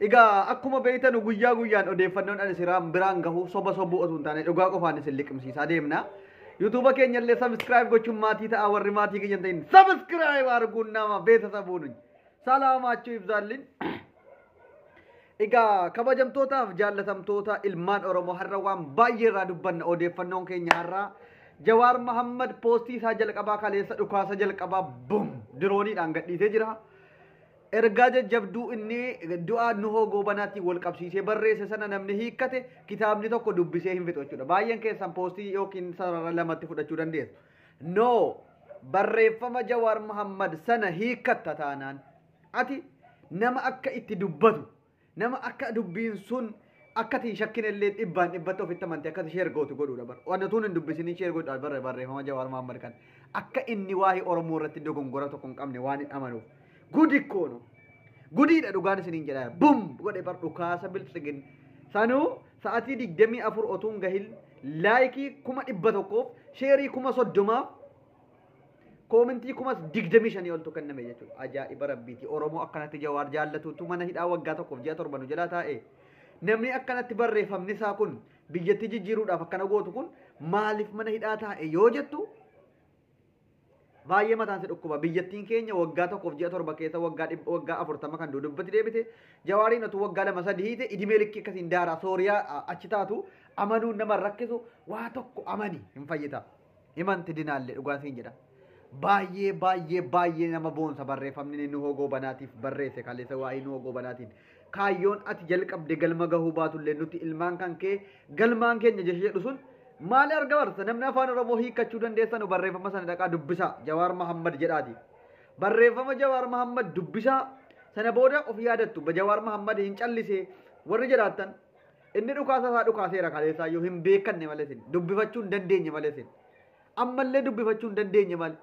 Egaa akkuma beektanu guyyaa guyyaan odeeffannoon ani siraan biraan gahu soba sobuu osoo hin taane dhugaa qofaan isin liqimsiisaa deemna. Yuutuuba keenya illee sabiskiraayib gochuun maatii ta'a warri maatii keenya hin ta'in sabiskiraayib arguun nama beeksisa buunuun. Salaamaachuu ibsaallin. Egaa kabajamtootaaf jaallatamtoota ilmaan Oromoo har'a waan baay'ee irraa dubbanna odeeffannoon keenya har'aa Jawaar Mahammad poostii isaa jalqabaa kaleessa dhukaasa jalqabaa bum dirooniidhaan gadhiisee jira. Ergaa jajjabduu inni du'aa Nuhoo Goobanaatiin wal qabsiisee barreesse sana namni hiikkate kitaabni tokko dubbisee hin fixu jechuudha. Baay'een keessan poostii yookiin sarara lamatti fudhachuu dandeessu. No barreeffama Jawaar Muhammad sana hiikkatta taanaan ati nama akka itti dubbatu Nama akka dubbiin sun akka ati hin shakkine illee dhibbaan dhibbatti ofitti amante akka ati share gootu godhuudha bar. Waan utuu hin dubbisiniin share godhuudha barre barreeffama Jawaar Mahaammad kan akka inni waa'ee Oromoo irratti dogongora tokko hin qabne waan hin amanuuf. Gudi koo no. Gudiidha dhugaan isiniin jedhaa bum godhe bar dhukaasa biltsigin. Sanuu sa'atii digdamii afur otuun gahin laayikii kuma dhibba tokkoof sheerii kuma soddomaaf Koomintii kumas digdamii shanii oltu kenname jechuudha. Ajaa'iba rabbiiti. Oromoo akkanatti jawaar jaallatuutu mana hidhaa waggaa tokkoof ji'a torba nu jalaa taa'e. Namni akkanatti barreeffamni isaa kun biyyattii jijjiiruudhaaf akkana gootu kun maaliif mana hidhaa taa'e yoo jettu baay'ee mataan si dhukkuba. Biyyattiin keenya waggaa tokkoof ji'a torba keessa waggaa dhib- waggaa afurtama kan dudubbatti deebite jawaariin otuu waggaa lama sadii hiite idimee likkii akkasiin daaraa sooriyaa a- achi taatu amanuun nama hin rakkisu waa tokko amani hin fayyita. Himanti dinaalle dhugaa siin jedha. Baay'ee baay'ee baay'ee nama boonsa barreeffamni inni Nuhoo Goobanaatiif barreesse kaleessa waa'ee Nuhoo Goobanaatiin. Kaayyoon ati jalqabde galma gahuu baatullee nuti ilmaan kan kee galmaan keenya jecha jedhu sun maali arga barsa namni afaan Oromoo hiikkachuu dandeessanu barreeffama sana dhaqaa dubbisaa Jawaar Mahammad jedhaati. Barreeffama Jawaar Mahammad dubbisaa sana booda of yaadattu Jawaar Mahammad hin callisee warri jedhaattan Inni dhukaasa isaa dhukaaseera kaleessaayyuu hin beekanne malee isin dubbifachuu hin dandeenye malee isin ammallee dubbifachuu hin dandeenye malee.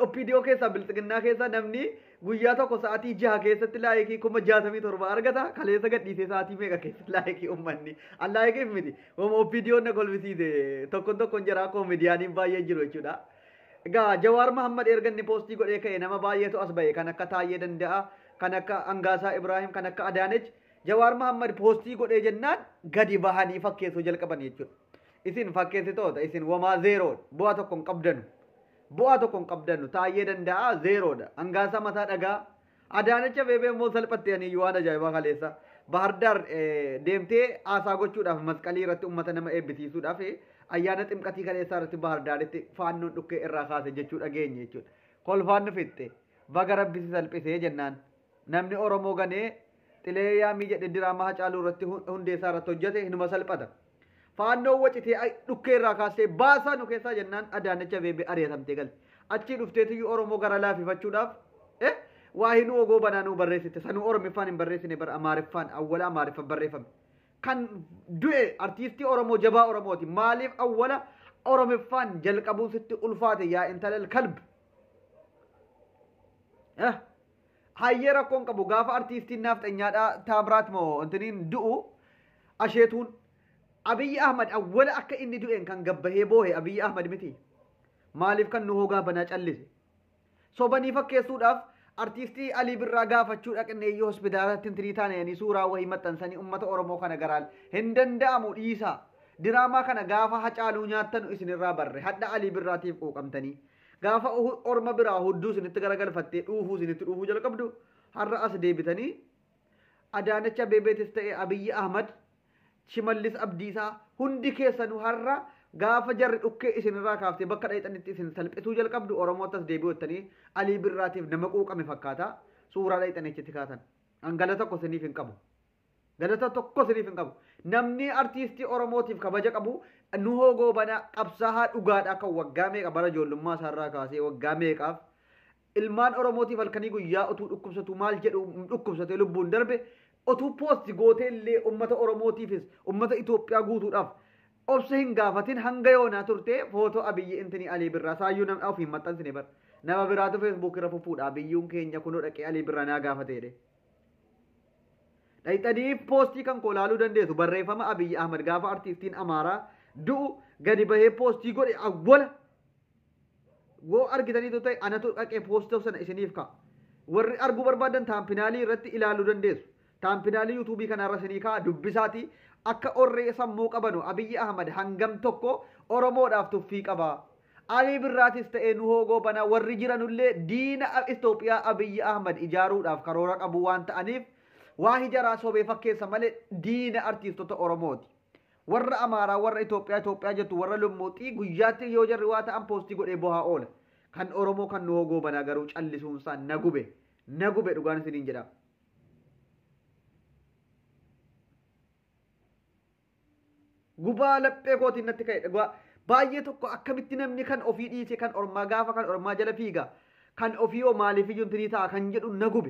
OPDO keessaa bilxiginnaa keessaa namni guyyaa tokko sa'aatii jaha keessatti laayikii kuma jaatamii torba argata kaleessa gadhiisee sa'aatii meeqa keessatti laayikii uummanni an laayikiif miti wama OPDO na kolbisiise tokkon tokkon jira akkoo midiyaaniin baay'ee jiru jechuudha. Egaa Jawaar Mahammad erga inni poostii godhee ka'e nama baay'eetu as ba'e kan akka taa'ee danda'a kan akka Angaasaa Ibraahim, kan akka Adaanech, Jawaar Mahammad poostii godhee jennaan gadi bahanii fakkeessuu jalqaban jechuudha. Isin fakkeessitoota, isin wamaa zeeroodha. Bu'aa tokko hin qabdanu. Bu'aa tokko hin qabdanu. Taayyee danda'aa zeeroodha. Angaasaa mataa dhagaa. Adaanecha beebee immoo salphatti ani waan ajaa'ibaa kaleessa. Bahardaar deemtee haasaa gochuudhaaf masqalii irratti uummata nama eebbisiisuudhaaf ayyaana ximqatii kaleessaa irratti Bahardaaritti faannoon dhukkee irraa kaase jechuu dhageenye jechuudha. Kolfaan nu fixxe. Baga rabbi si salphisee jennaan. Namni Oromoo ganee xilee yaamii jedhe diraamaa Hacaaluu irratti hundeessaa irratti hojjete hinuma salphata. Faannoon wacitee ay- dhukkee irraa kaastee baasaa nu keessaa jennaan Adaanech Abeebee ari'atamtee galte. Achii dhufteetiyyuu Oromoo gara laafifachuudhaaf eh, waa hinuu ogoo banaa nuu barreessite. Sanuu Oromiffaan hin barreessine bara Amaariffaan awwala Amaariffa barreeffame. Kan du'e artiistii Oromoo jabaa Oromooti. Maaliif awwala Oromiffaan jalqabuun sitti ulfaate yaa intalal kalbi. Hayyee rakkoon qabu gaafa artiistiin naafxanyaadhaa taamiraat moo intiniin du'u asheetuun Abiyyi Ahmad awwala akka inni du'een kan gabbahee boohe Abiyyi Ahmad miti. Maaliif kan nu hoogaa banaa callise? Sobanii fakkeessuudhaaf artiistii Alii Birraa gaafachuu dhaqnee iyyuu hospitaalatti intinii taananii suuraa wahii maxxansanii uummata Oromoo kana garaan hin danda'amu dhiisaa. Diraamaa kana gaafa hacaaluu nyaattanu isinirraa barre hadha Alii Birraatiif quuqamtanii. Gaafa Uhud orma biraa hudduu isinitti garagalfattee dhuufuu isinitti dhuufuu jalqabdu har'a as deebitanii Adaanach Abeebeetis ta'e Abiyyi Ahmad Shimallis Abdiisaa hundi keessanuu har'a gaafa jarri dhukkee isinirraa kaaftee bakka dhayxanitti isin salphisuu jalqabdu Oromootti as deebi'u jettanii Alii Birraatiif nama quuqame fakkaata suuraa dhayxanii achitti kaatan. An gala tokko isiniif hin qabu. Galata tokko siniif hin qabu. Namni artiistii Oromootiif kabaja qabu Nuhoo Goobanaa qabsaahaa dhugaadhaa kan waggaa meeqa bara ijoollummaa isaarraa kaasee waggaa meeqaaf ilmaan Oromootiif halkanii guyyaa utuu dhukkubsatu maal jedhu dhukkubsatee lubbuun darbe utuu poosti gootee illee uummata Oromootiifis uummata Itoophiyaa guutuudhaaf obsa hin gaafatin hanga yoonaa turtee footoo Abiyyi Intinii Alii Birraa saayyuu namni ofii hin maxxansine bara. Nama biraatu feesbuukirra fuffuudha Abiyyuun keenya kunoo dhaqee Alii Birraa naa gaafate jedhee. Dhayxanii poostii kan koo laaluu dandeessu barreeffama Abiyyi Ahmad gaafa artiistiin Amaaraa du'u gadi bahee poostii godhe awwala. Woo argitanii ta'e anatu dhaqee poostii sana isiniif ka'a. Warri arguu barbaadan taampinaalii irratti ilaaluu dandeessu. Taampinaalii yuutuubii kanarra isinii ka'a dubbisaatii akka orree sammuu qabanu Abiyyi Ahmad hangam tokko Oromoodhaaf tuffii qaba. Alii Birraatis ta'e Nuhoo Goobanaa warri jiranullee diina Itoophiyaa Abiyyi Ahmad ijaaruudhaaf karoora qabu waan ta'aniif waahi jaraa sobee fakkeessa malee diina artiistota Oromooti. Warra Amaaraa warra Itoophiyaa Itoophiyaa jettu warra lummuuxxii guyyaatti yoo jarri waa ta'an poostii godhee bohaa oola. Kan Oromoo kan Nuhoo Goobanaa garuu callisuunsaa na gube na gube dhugaan isiniin jedha. Gubaa laphee kootiin natti ka'e dhugaa baay'ee tokko akkamitti namni kan ofii dhiisee kan ormaa gaafa kan ormaa jala fiiga kan ofii hoo maaliif iyyuu intinii ta'a kan jedhu na gube.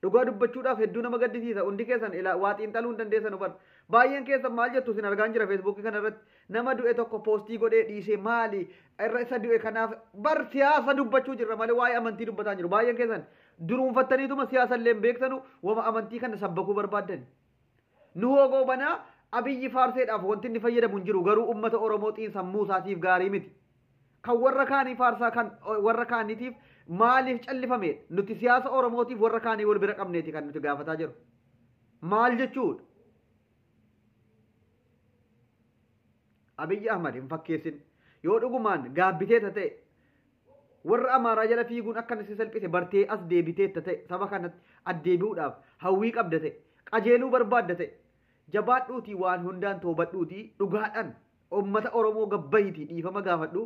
Dhugaa dubbachuudhaaf hedduu nama gaddisiisa hundi keessan ilaa waa xiinxaluu hin dandeessan hubar. Baay'een keessan maal jettu isin argaan jira feesbuukii kana irratti nama du'e tokko poostii godhee dhiisee maali irra isa du'e kanaaf bar siyaasa dubbachuu jirra malee waa'ee amantii dubbataa hin jiru baay'een keessan duruunfattaniituma siyaasa illee hin beektanu wama amantii kana sabbakuu barbaaddan. Nuhoo Goobanaa, Abiyyi faarseedhaaf wanti inni fayyadamu hin jiru garuu ummata Oromoo xiinsammuu isaatiif gaarii miti. Kan warra kaanii faarsaa kan warra kaaniitiif maaliif callifameedha? Nuti siyaasa Oromootiif warra kaanii wal bira qabneeti kan nuti gaafataa jiru. Maal jechuudha? Abiyyi Ahmad hin fakkeessin. Yoo dhugumaan gaabbitee ta'e Warra Amaaraa jala fiiguun akka si salphise bartee as deebiteetta ta'e saba kanatti addeebi'uudhaaf hawwii qabda ta'e qajeeluu barbaadda ta'e jabaadhuutii waan hundaan toobadhuutii dhugaadhaan ummata Oromoo gab bahiitii dhiifama gaafadhu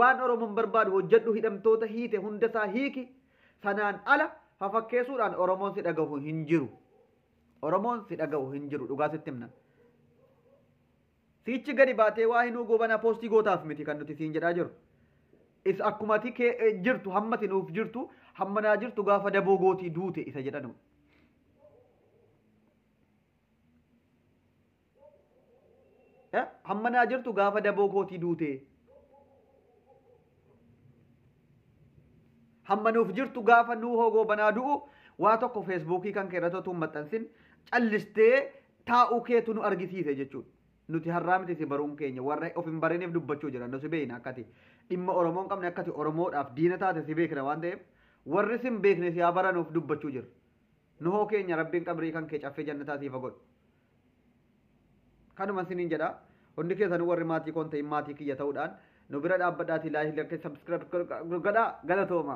waan Oromoon barbaadu hojjedhu hidhamtoota hiite hundasaa hiiki sanaan ala fafakkeesuudhaan Oromoon si dhagahu hin jiru Oromoon si dhagahu hin jiru dhugaa sitti himna. Siichi gadi baatee waa hinuu goobana posti gootaaf miti kan nuti siin jedhaa jiru. Is akkumati kee jirtu hammati nuuf jirtu hamma naa jirtu gaafa daboo gootii duute isa jedhanu. Hamma naa jirtu gaafa daboo kootii duute. Hamma nuuf jirtu gaafa nuu hoogoo banaa du'u waa tokko feesbuukii kan keerratti otuu hin maxxansin callistee taa'uu keetu nu argisiise jechuudha. Nuti har'aa miti si baruun keenya warra of hin bariniif dubbachuu jira nu si beekna akkati dhimma Oromoo hin qabne akkati Oromoodhaaf diina taate si beekna waan ta'eef warri sin beekne si haa baranuuf dubbachuu jira. Nuhoo keenya rabbiin qabrii kan kee caffee jannataa siifa godhu. Kanuma isiniin jedha. Hundi keessanuu warri maatii koon ta'in maatii kiyya ta'uudhaan nu bira dhaabbadhaatii laayikii lakkee sabskiraayib godhaa galatooma.